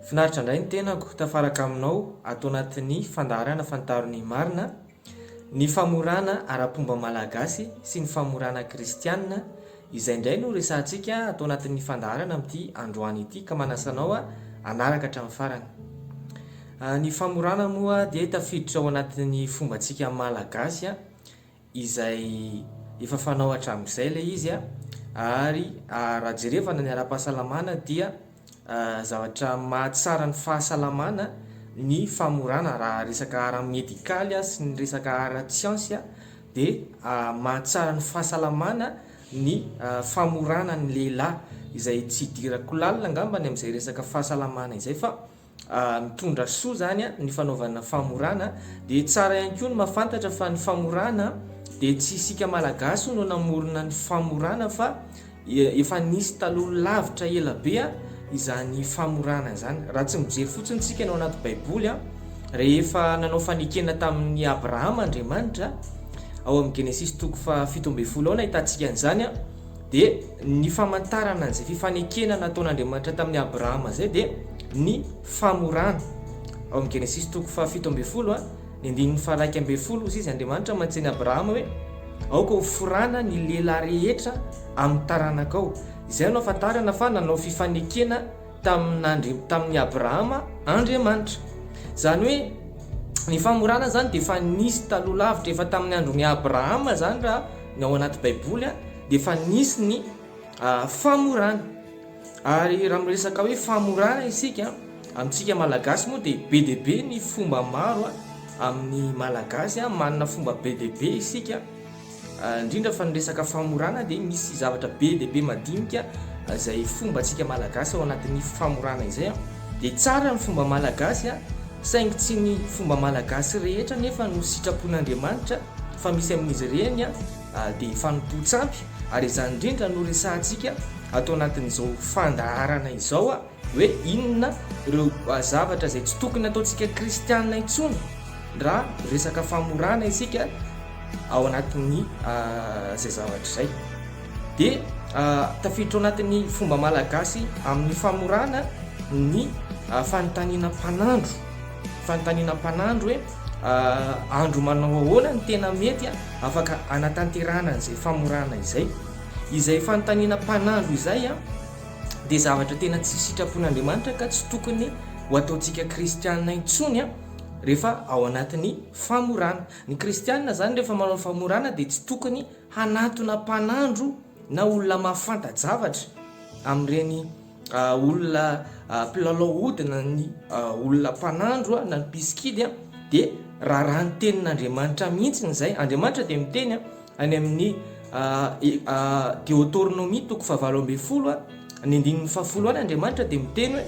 Finaritra indray ny tenako tafaraka aminao ato anatin'ny fandaharana Fantaro ny marina, ny famorana ara-pomba malagasy sy ny famorana kristianina, izay indray no resahantsika ato anatin'ny fandaharana amin'ity androany ity ka manasa anao hanaraka hatramin'ny farany. Ny famorana moa dia tafiditra ao anatin'ny fombantsika malagasy, izay efa fanao hatramin'izay ilay izy a, ary raha jerevana ny ara-pahasalamana dia zavatra mahatsara ny fahasalamana ny famorana raha resaka ara-medikaly a sy ny resaka ara-tsiansy a dia mahatsara ny fahasalamana ny famorana ny lehilahy izay tsy hidirako lalina angambany amin'izay resaka fahasalamana izay fa mitondra soa zany ny fanaovana famorana dia tsara ihany koa ny mafantatra fa ny famorana dia tsy isika malagasy no namorona ny famorana fa efa nisy taloha lavitra ela be izany famorana izany raha tsy mijery fotsiny tsika no anaty baiboly a rehefa nanao fanekena tamin'ny abrahama andriamanitra ao amin'ny genesisy toko fa fitombefolo aona hitantsika an'izany a Dia ny famantarana an'izay fifanekena nataon'Andriamanitra tamin'i Abrahama izay dia ny famorana. Ao amin'ny Genesisy toko fahafito ambin'ny folo, ny andininy faha-iraika ambin'ny folo, hoy izy Andriamanitra mantsy an'i Abrahama hoe, Aoka hoforana ny lehilahy rehetra amin'ny taranakao. Izay no ahafantarana fa nanao fifanekena. tamin'Andri, tamin'i Abrahama Andriamanitra. Izany hoe ny famorana izany dia efa nisy taloha lavitra, efa tamin'ny andron'i Abrahama izany raha ny ao anaty Baiboly a, dia efa nisy ny famorana. Ary raha miresaka hoe famorana isika, amintsika Malagasy moa dia be dia be ny fomba maro a, amin'ny Malagasy a, manana fomba be dia be isika. Indrindra fa ny resaka famorana dia misy zavatra be dia be madinika izay fombantsika malagasy ao anatin'ny famorana izay. Dia tsara ny fomba malagasy saingy tsy ny fomba malagasy rehetra nefa no sitrapon'Andriamanitra fa misy amin'izy ireny dia fanompoan-tsampy ary izany indrindra no resahantsika ato anatin'izao fandaharana izao. Hoe inona ireo zavatra izay tsy tokony ataontsika kristiana intsony raha resaka famorana isika ao anatin'ny izay zavatra izay. Dia tafiditra ao anatin'ny fomba malagasy amin'ny famorana ny fanontaniana mpanandro. Fanontaniana mpanandro hoe andro manao ahoana ny tena mety afaka anatanterahana an'izay famorana izay. Izay fanontaniana mpanandro izay dia zavatra tena tsy sitrapon'Andriamanitra ka tsy tokony ho ataontsika kristiana intsony rehefa ao anatin'ny famorana. Ny kristiana izany rehefa manao ny famorana dia tsy tokony hanatona mpanandro na olona mahafanta-javatra amin'ireny olona mpilalao ody na ny olona mpanandro na ny mpisikidy dia raràn'ny tenin'Andriamanitra mihitsy izay. Andriamanitra dia miteny Any amin'ny Deoteronomia toko fahavalo ambin'ny folo, ny andininy fahafolo any, Andriamanitra dia miteny hoe,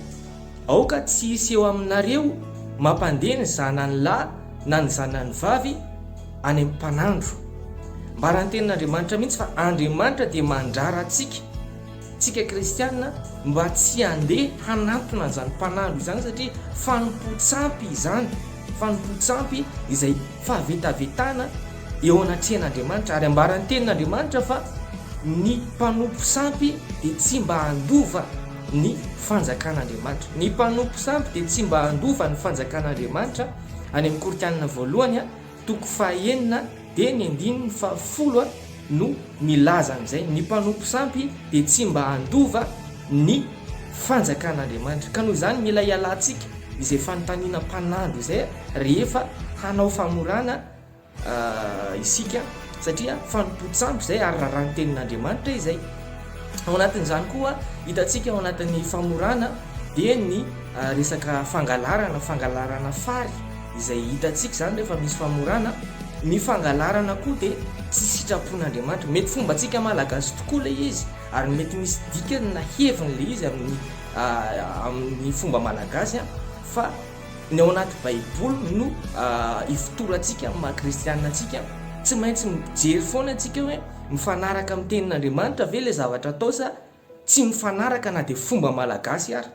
Aoka tsy hisy eo aminareo mampandeha ny zanany lahy na ny zanany vavy any am-panandro. Ambara ny tenin'Andriamanitra mihitsy fa Andriamanitra dia mandrara antsika. Tsika kristiana mba tsy handeha hanatona an'izany mpanango izany satria fanompoan-tsampy izany, fanompoan-tsampy izay fahavetavetana eo anatrehan'Andriamanitra ary ambaran'ny tenin'Andriamanitra fa ny mpanompo sampy dia tsy mba handova ny fanjakan'Andriamanitra. Ny mpanompo sampy dia tsy mba handova ny fanjakan'Andriamanitra any amin'ny Koritianina voalohany. Toko fahenina dia ny andininy fahafolo no milaza an'izay, ny mpanompo sampy dia tsy mba handova ny fanjakan'Andriamanitra, ka noho izany mila hialantsika izay fanontaniana mpanandro izay rehefa hanao famorana isika, satria fanompoan-tsampy izay ary raràn'ny tenin'Andriamanitra izay. Ao anatin'izany koa hitantsika ao anatin'ny famorana dia ny resaka fangalarana, fangalarana fary, Izay hitantsika izany rehefa misy famorana, ny fangalarana koa dia tsy sitrapon'Andriamanitra. Mety fombantsika Malagasy tokoa ilay izy ary mety misy dikany na heviny ilay izy amin'ny amin'ny fomba Malagasy fa ny ao anaty baiboly no ifotorantsika amin'ny maha kristianina antsika. Tsy maintsy mijery foana antsika hoe mifanaraka amin'ny tenin'Andriamanitra ve ilay zavatra atao sa tsy mifanaraka na dia fomba Malagasy ary.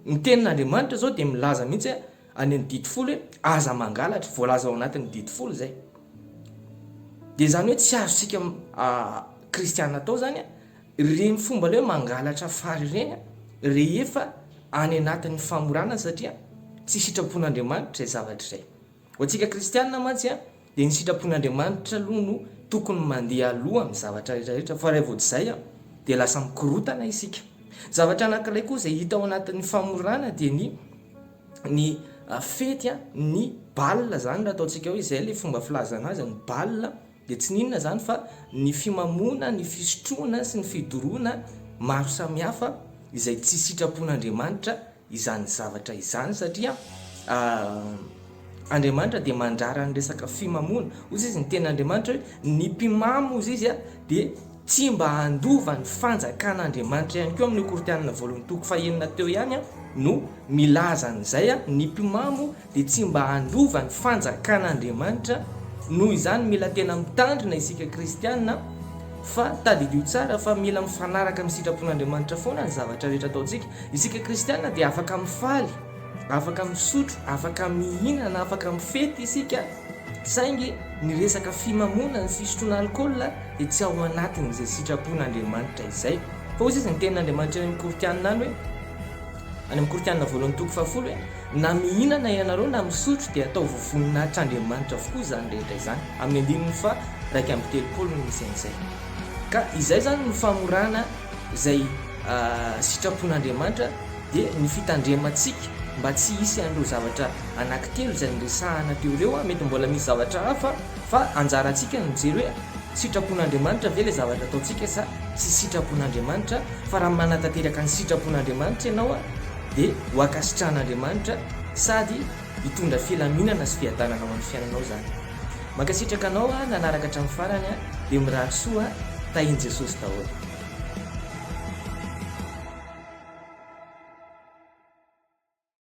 Ny tenin'Andriamanitra izao dia milaza mihitsy hoe. Any amin'ny didy folo hoe aza mangalatra, voalaza ao anatin'ny didy folo izay. Dia izany hoe tsy azontsika kristiana atao izany ireny fomba ilay hoe mangalatra fary ireny rehefa any anatin'ny famorana satria tsy sitrapon'Andriamanitra izay zavatra izay. Ho antsika kristiana mantsy, Dia ny sitrapon'Andriamanitra aloha no tokony mandeha aloha amin'ny zavatra rehetra rehetra fa raha vao tsy izay dia lasa mikorotana isika. Zavatra anankiray koa izay hita ao anatin'ny famorana dia ny ny fety ny bal izany raha ataontsika hoe izay ilay fomba filazana azy ny bal dia tsy n'inona izany fa ny fimamoana, ny fisotroana sy ny fidoroana maro samihafa izay tsy sitrapon'Andriamanitra izany zavatra izany satria Andriamanitra dia mandrara ny resaka fimamoana ozy izy ny tena Andriamanitra hoe ny mpimamo ozy izy a dia tsy mba handova ny fanjakan' Andriamanitra ihany koa amin'ny kortianina voalohan'ny toko fahenina teo ihany a no milazan'izay a ny mpimamo dia tsy mba handova ny fanjakan'Andriamanitra, noho izany mila tena mitandrina isika kristiana fa tadidio tsara fa mila mifanaraka amin'ny sitrapon'Andriamanitra foana ny zavatra rehetra ataontsika, isika kristiana dia afaka mifaly, afaka misotro, afaka mihinana, afaka mifety isika saingy ny resaka fimamoana, ny fisotroana alkaola dia tsy ao anatin'izay sitrapon'Andriamanitra izay, fa hoy sisa ny tenin'Andriamanitra any amin'ny Kortianina any hoe. Any amin'ny Kortiana voalohany toko fahafolo hoe, Na mihinana ianareo na misotro dia ataovy voninahitr'Andriamanitra avokoa izany rehetra izany, amin'ny andininy faha raika amby telopolo no misy an'izay. Ka izay izany no famorana izay sitrapon'Andriamanitra dia ny fitandremantsika mba tsy hisy an'ireo zavatra anankitelo izay niresahana teo ireo, mety mbola misy zavatra hafa, Fa anjarantsika ny mijery hoe sitrapon'Andriamanitra ve ilay zavatra ataontsika sa tsy sitrapon'Andriamanitra, fa raha manatanteraka ny sitrapon'Andriamanitra ianao dia ho ankasitrahan'Andriamanitra sady hitondra filaminana sy fiadanana ho an'ny fiainanao izany. Mankasitraka anao aho nanaraka hatramin'ny farany a! Dia mirary soa a! Tahin'i Jesosy daholo.